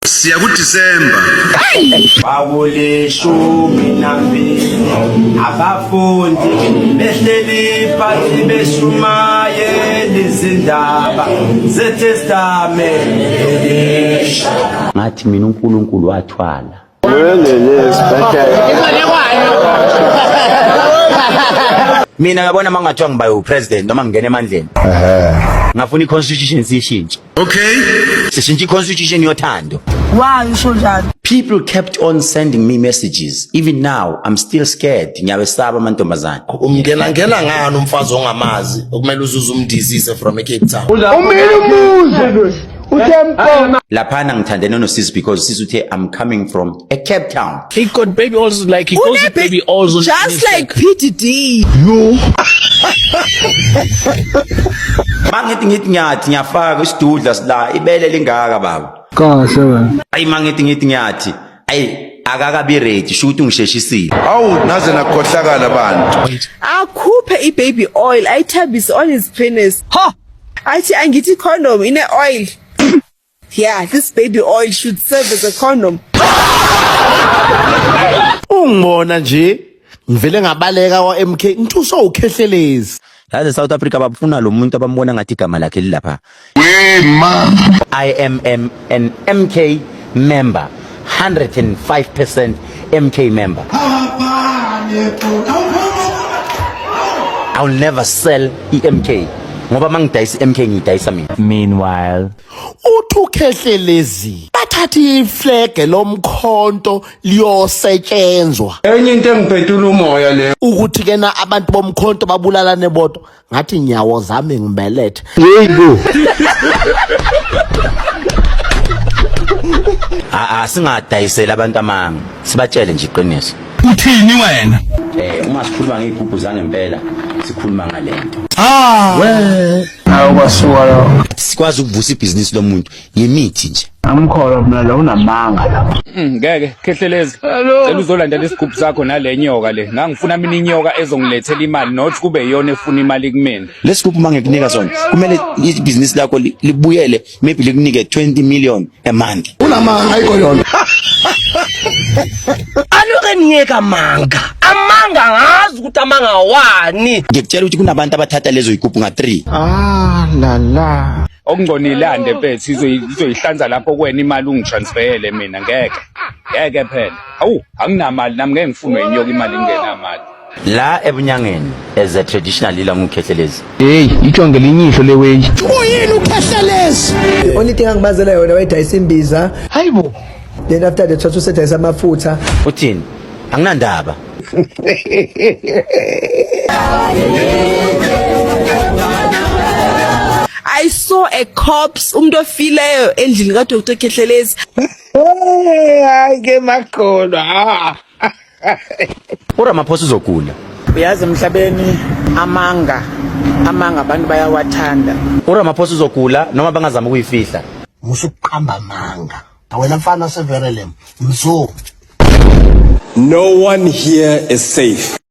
siya kuDisemba. Kwakulishumi nambili abafundi behleli phansi beshumayela izindaba zeTestamente. Ngathi mina uNkulunkulu wathwala. Mina yabona mangathiwa ngiba upresident noma ngingena emandleni. Ngafuna iconstitution siyishintshe. Okay. Sishintshe iconstitution yothando. Why usho njalo? People kept on sending me messages. Even now, I'm still scared. Ngiyawesaba amantombazane. Umngena ngena ngani umfazi ongamazi okumele uzuze umdizise from Cape Town. Umile umuzi. Uthempo. Laphana ngithandene nosisi because sisi uthe I'm coming from a Cape Town. He got baby also like he calls it baby also. Just like PDD. Yo. Mangithi ngithi ngiyathi ngiyafaka isidudla sila ibele lingaka baba. Kahle wena. Ayi mangithi ngithi ngiyathi. Ayi akakabi ready shuthi ungisheshisile awu naze nakhohlakala bantu akhuphe ibaby oil ayithambise on his penis ha athi angithi condom ine oil Yeah, this baby oil should serve as a condom. Ungibona nje ngivele ngabaleka wa MK ngithusa ukhehlelezi. Yazi South Africa babufuna lo muntu abambona ngathi igama lakhe lilapha. We ma I am an MK member. 105% MK member. I'll never sell EMK ngoba mangidayisa iMK ngidayisa mina. Meanwhile, uthukhehlelezi bathatha iflege lomkhonto liyosetshenzwa. Enye into engiphetula umoya leyo. Ukuthi kena abantu bomkhonto babulalane bodwa. ngathi nyawo zami ngibelethe yeyibo a singadayisela abantu amanga sibatshele nje iqiniso uthini wena eh uma sikhuluma ngeyigubhu zangempela sikhuluma ngalento ah we awu kwasuka sikwazi ukuvusa ibhizinisi lomuntu ngemithi nje Amkholwa mina lo unamanga la. Mm, ngeke khehlelezi. Cela uzolandela isigubhu sakho nale nyoka le. Ngangifuna mina inyoka ezongilethela imali not kube iyona efuna imali kumina. Lesigubhu mangekunika sona kumele ibhizinisi lakho libuyele maybe likunike 20 million a month. Unamanga ayikho yona. Aluke niyeka manga. Amanga ngazi ukuthi amanga wani. Ngikutshela ukuthi kunabantu abathatha lezo igubhu nga 3. Ah la la. okungconile ande mfethu izoyihlanza lapho kwena imali ungitransfeyele mina ngeke ngeke phela awu anginamali nami ngeke ngifunwe inyoka imali ingenamali la ebunyangeni as a traditional leader ngukhehlelezi hey itshonge linyihlo leweyi uyini ukhehlelezi only thing angibazela yona wayidayisa imbiza hayibo then after the thathu usedayisa amafutha uthini anginandaba I saw a corpse umuntu ofileyo endlini ka Dr Khehlelezi hayi ke makholwa ah. uramaphosa uzogula uyazi emhlabeni amanga amanga abantu bayawathanda uramaphosa uzogula noma bangazama ukuyifihla musuqamba manga wena mfana severelem mzo no one here is safe